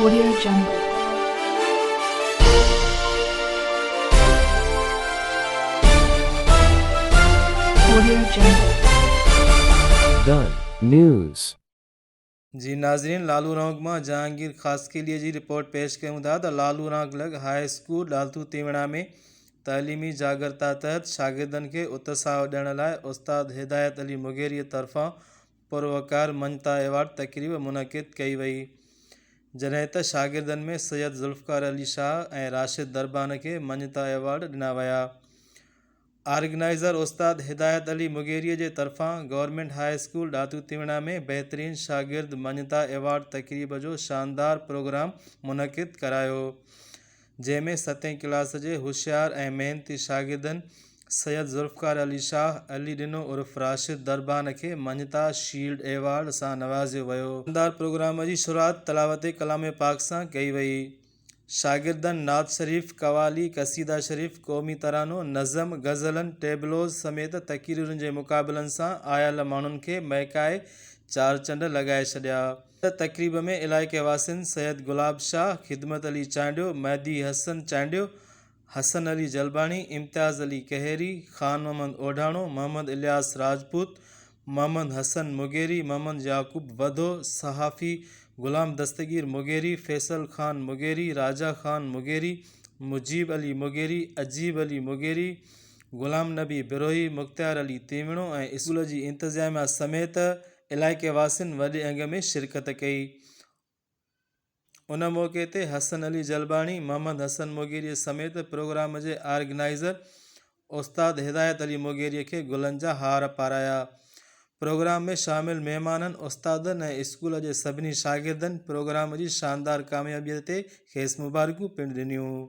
Korea جنگ، Korea جنگ. The News. جي ناظرين لالو رانڪ مان جهانگير خاصخيلي جي رپورٽ پيش ڪيون ٿا ته لالو رانڪ لڳ هاء اسڪول ڏالٿو تيوڻا ۾ تعليمي جاڳرتا تحت شاگردن کي اتساهه ڏيڻ لاء استاد هدايت علي مغيري طرفان پروقار مڃتا ايوارڊ تقريب منعقد ڪئي وئي جڏهن ته شاگردن ۾ سيد ذوالفقار علي شاهه ۽ راشد دربان کي مڃتا ايوارڊ ڏنا ويا آرگنائيزر استاد هدايت علي مغيري جي طرفان گورنمينٽ هاء اسڪول ڏاتو تيوڻا ۾ بهترين شاگرد مڃتا ايوارڊ تقريب جو شاندار پروگرام منعقد ڪرايو جنهن ۾ ستين ڪلاس جي هوشيار ۽ محنتي شاگردن سيد ذوالفقار علي شاهه، علي ڏنو عرف راشد دربان کي مڃتا شيلڊ ايوارڊ سان نوازيو ويو. شاندار پروگرام جي شروعات تلاوت ڪلام پاڪ سان ڪئي وئي. شاگردن نعت شريف، قوالي، قصيده شريف، قومي ترانو، نظم، غزلن، ٽيبلوز سميت تقريرن جي مقابلن سان آيل ماڻهن کي مهڪائي چار چنڊ لڳائي ڇڏيا. تقريب ۾ علائقي واسين سيد گلاب شاھ، خدمت علي چانڊيو، مھدي حسن چانڊيو، حسن علي جلباڻي، امتياز علي ڪهيري، خان محمد اوڍاڻو، محمد الياس راجپوت، محمد حسن مغيري، محمد يعقوب وڌو، صحافي غلام دستگير مغيري، فيصل خان مغيري، راجا خان مغيري، مجيب علي مغيري، عجيب علي مغيري، غلام نبي بروھي، مختيار علي تيوڻو ۽ اسڪول جي انتظاميا سميت علائقي واسين وڏي انگ ۾ شرڪت ڪئي. ان موقعي تي حسن علي جلباڻي، محمد حسن موگيري سميت پروگرام جي آرگنائيزر استاد هدايت علي موگيري کي گلن جا هار پارايا. پروگرام ۾ شامل مهمانن، استادن ۽ اسڪول جي سڀني شاگردن پروگرام جي شاندار ڪاميابي تي کيس مبارڪون پڻ ڏنيون.